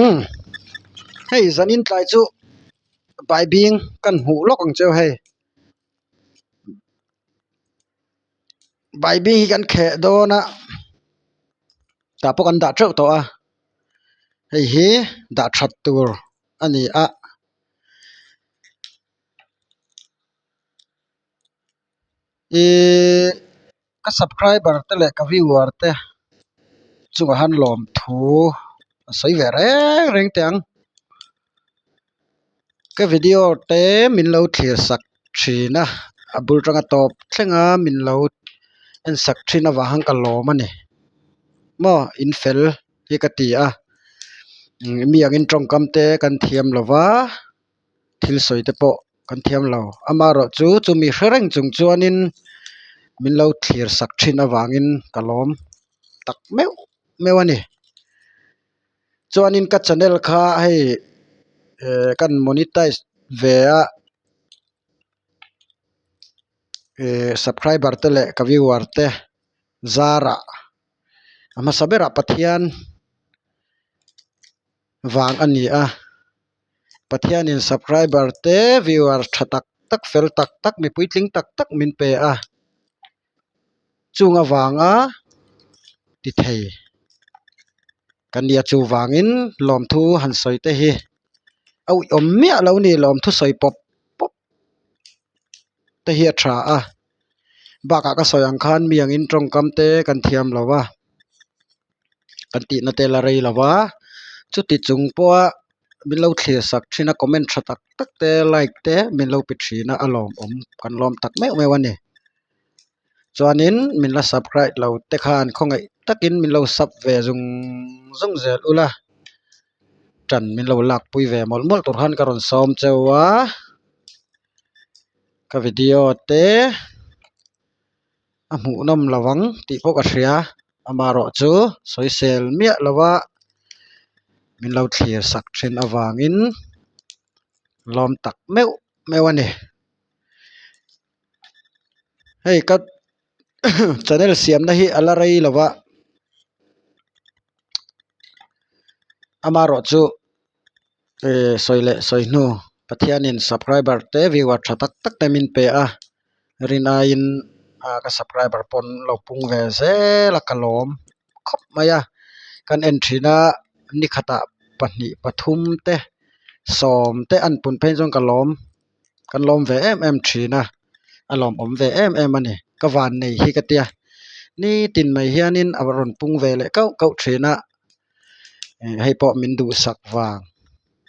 umm hei zanin tlai chu baibing kan hmuh lawk ang che hei baibing hi kan kheh dawn a tah pawh kan dah teuh tawh a hei hi dah that tur a ni a. Iihh ka subscriber te leh ka viewer te chungah han lawmthu a sawi ve reng reng teh ang ka video te min lo thlir sak thin a a bul tang a tawp thleng a min lo en sak thin avang han ka lawm a ni maw in fel hi ka ti a mi angin tawngkam te kan thiam lo va. thil sawi te pawh kan thiam lo ama erawh chu chumi hre reng chung chuanin min lo thlir sak thin avangin ka lawm tak meuh meuh a ni chuanin ka channel kha hei ehh kan monetize ve a ehh subscriber te leh ka viewer te zara a hmasa berah pathian-- vang a ni a pathianin subscriber te viewers tha tak tak fel tak tak mi puitling tak tak min pe a chunga vanga ti thei ka nia chuvangin lawmthu han sawi te hi auh awm miah lo ni lawmthu sawi pawp pawp te hi a tha a bakah ka sawi ang khan mi angin tawngkam te kan thiam lo a. kan tihna te la rei lo va chuti chung pawha min lo thlir sak thin a comment tha tak tak te like te min lo pe thin a a lawmawm kan lawm tak meuh meuh a ni chuanin min la subscribe lo te khan khawngaih takin min lo sub ve zung zung zel ula ṭan min lo lakpui ve mawlh mawlh tur khan ka rawn sawm cheu a ka video te. a hmuh nawm lo ang tih pawh ka hria amaherawh chu sawisel miah lova min lo thlir sak thin avangin lawm tak meuh meuh a ni hei ka channel siamna hi a la rei lova amaherawhchu-- sawi leh sawi hnu pathianin subscriber te viewer tha tak tak te min pe a rin aiin ah ka subscriber pawn lo pung ve zel a ka lawm khawp mai a kan en thin a ni khatah pahnih pathum te sawm te a an pun phei chuan ka lawm kan lawm ve em em thin a a lawm awm ve em em a ni ka vannei hi ka tia nitin mai hianin a rawn pung ve leh kauh kauh thin a. hei pawh min duhsak vang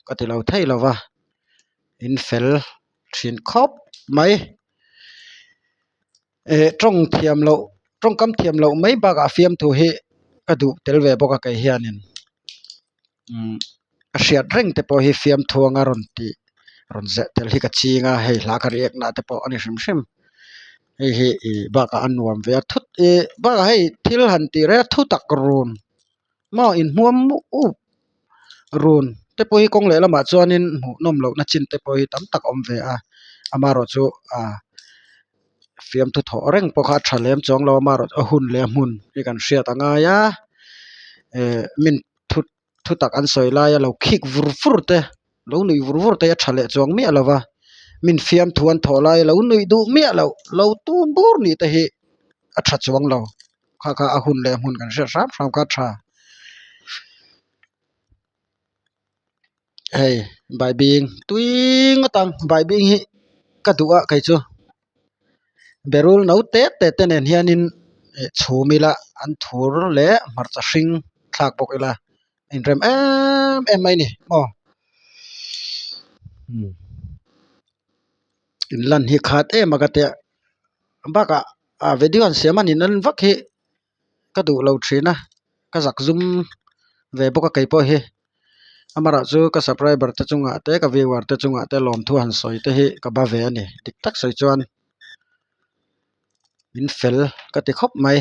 ka ti lo thei lo va in fel thin khawp mai eh tawng thiam loh tawngkam thiam loh mai bakah fiamthu hi ka duh tel ve bawk a kei hian in umm a hriat reng te pawh hi fiamthuang a rawn tih rawn zeh tel hi ka ching a hei hla ka riak nahte pawh a ni hrim hrim. hei hi ih bakah a nuam ve a thut ih bakah hei thil han tih reng a thu tak run maw in hmuam muh uh run te pawh hi kawng leh lamah chuanin hmuh nawm loh na chin te pawh hi tam tak awm ve a amarawh chu ah fiamthu thawh reng pawh kha a tha lem chuang lo amarawh a hun leh a hmun hi kan hriat a ngai a eh min thut-- thutak an sawi lai a lo khik vur vur te lo nuih vur vur te a tha leh chuang miah lo va min fiam thu an thawh lai a lo nuih duh miah loh lo tum bur ni te hi a tha chuang lo kha kha a hun leh a hmun kan hriat hrang hrang kha a tha hei bai bing tuiiing atang bai bing hi ka duh a kei chu. berul no te te te nen hian in eh chhum ila an thur leh hmarcha hring thlak bawk ila a in rem em em mai a ni aw hmm in lan hi khat em aka tia bakah a video an siam a ni nan vak hi-- ka duh lo thin a ka zak zum ve bawk a kei pawh hi amarah chu ka subcriber te chungah te ka viewer te chungah te lawmthu han sawi te hi ka ba ve a ni dik tak sawi chuan min fel ka ti khawp mai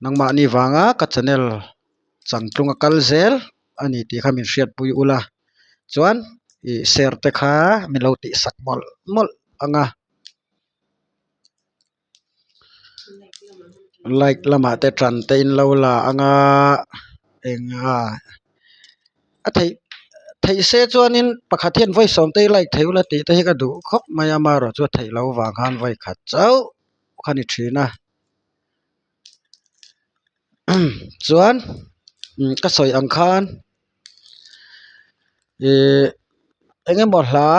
nangmahni vanga ka channel chang tlung a kal zel a ni tih kha min hriat pui ula chuan ih share te kha min lo tih sak mawlh mawlh ang a. light lamah te tan te in lo la ang a eng a a thei thei se chuan in pakhat hian vawi sawm te hi light theih ula tih te hi ka duh khawp mai a amarawhchu a theih lo vang khan vawi khat chauh kha ni thin a. chuan ka sawi ang khan ihh eng nge maw hla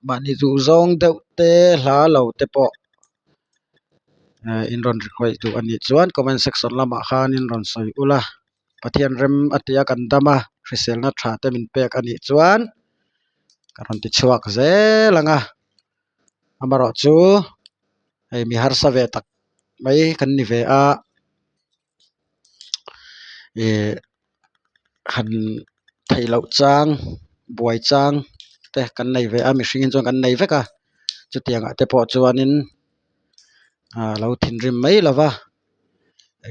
mahni duh zawng deuh te hla lo te pawh ehh in rawn request duh anih chuan comment section lamah khan in rawn sawi ulh a pathian rem a tia kan dam a hriselna tha te min pek anih chuan ka rawn ti chhuak zel ang a. amarawh chu hei mi harsa ve tak mai kan ni ve a ihh han theih loh chang buai chang te kan nei ve a mihringin chuan kan nei vek a chutiang ah te pawh chuanin aa lo thinrim mai lova.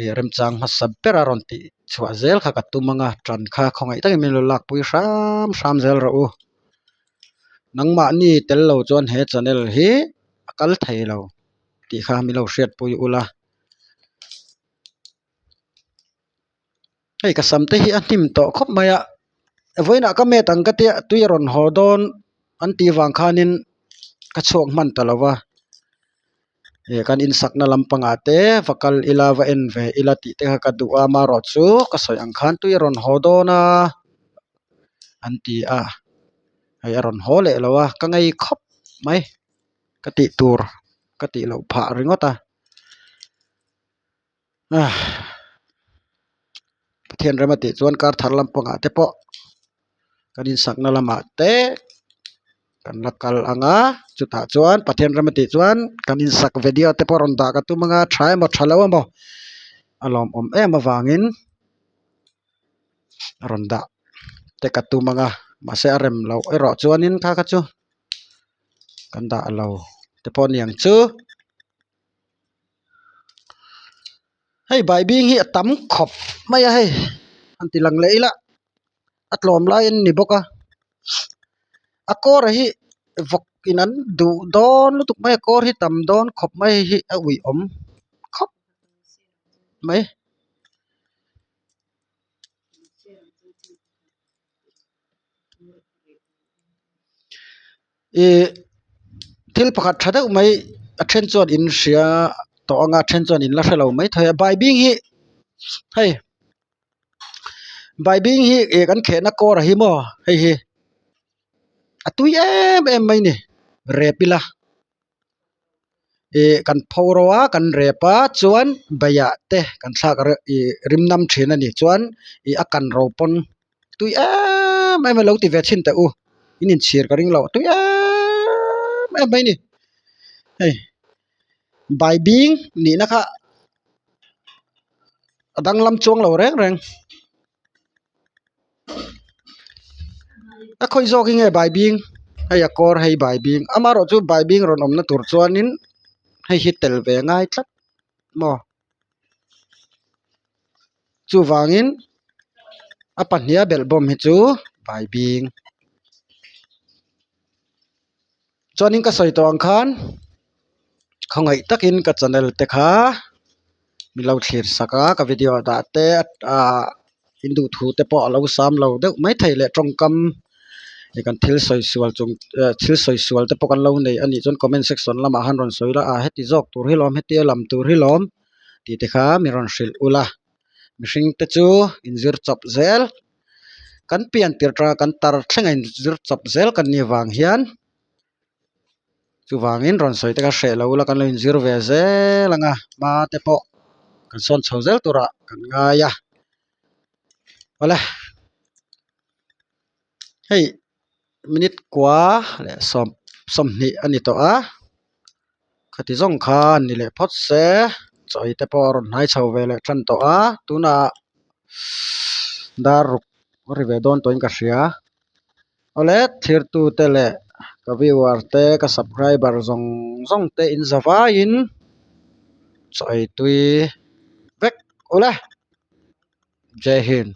ih remchang hmasa ber a rawn tih chhuah zel kha ka tum ang a ṭan kha khawngaih takin min lo lakpui hram hram zel rawh u nangmahni tel lo chuan he channel hi a kal thei lo tih kha min lo hriatpui ula. Hei ka sam te hi a hnim tawh khawp mai a, vawiinah ka met ang ka tia tui a rawn haw dawn an tih vang khanin ka chhuak hman ta lo va, hei kan insakna lam pangah te va kal ila va en ve ila tih te kha ka duh a, amarawhchu chu ka sawi ang khan tui a rawn haw dawn a an ti a, hei a rawn haw leh lo a ka ngei khawp mai ka tih tur ka tih loh phah ringawt a. Pathian rama tih chuan kar thar lam pangah te pawh kan insakna lamah te kan la kal ang a chutah chuan Pathian rama tih chuan kan insak video te pawh rawn dah ka tum anga tha emaw tha lo emaw a lawmawm em avangin a rawn dah te ka tum anga mahse a rem loh erawh chuanin kha kha chu kan dah lo te pawh niang chu. hei bai bing hi a tam khawp mai a hei han ti lang leh ila a tlawm lai an ni bawk a a kawr ah hi vawk in an duh dawn lutuk mai a kawr hi tam dawn khawp mai hi a ui awm khawp mai. ihh thil pakhat tha deuh mai a then chuan in hria tawh anga a then chuan in la hrelo mai thei a bybing hi hei bybing hi ih kan khehna kawr a hi maw hei hi a tui em em mai ni rep ila. ihh kan pho ro a kan rep a chuan baiah te kan thlak reuh ihh rimnam thin a nih chuan ihh a kan ro pawn tui em em a lo ti ve thin teh u in inchhir ka ring lo tui em em mai a ni hei bai bing nihna kha a danglam chuang lo reng reng. a khawi zawk hi nge baibing hei a kawr hei baibing amarawhchu baibing rawn awmna tur chuanin hei hi tel ve ngai tlat maw chuvangin a pahniha belh bawm hi chu baibing. chuanin ka sawi tawh ang khan khawngaih takin ka channel te kha min lo thlir sak a ka video a dah te ah in duh thu te pawh a lo sam lo deuh mai thei leh tawngkam i kan thil sawi sual chung eh thil sawi sual te pawh kan lo neih a nih chuan comment section lamah han rawn sawi la ah heti zawk tur hi lawm heti a lam tur hi lawm tih te kha min rawn hrilh ula mihring te chu in zir chawp zel. kan pianpui atanga kan tar thleng a in zir chawp zel kan nih avang hian chuvangin rawn sawi te ka hreh loh ila kan lo in zir ve zel anga hma te pawh kan sawn chho zel tur ah kan ngai a awle hei-- minute kua leh sawm sawmhnih a ni tawh a khati zawng kha a ni leh phawt se chawite pawh a rawn hnai chho ve leh ṭhan tawh a tunah dar ruk ri ve dawn tawhin ka hria awle thirtute leh ka viewer te ka subscriber zawng zawng te inza vaiin chawitui vek uleh. Jai Hind.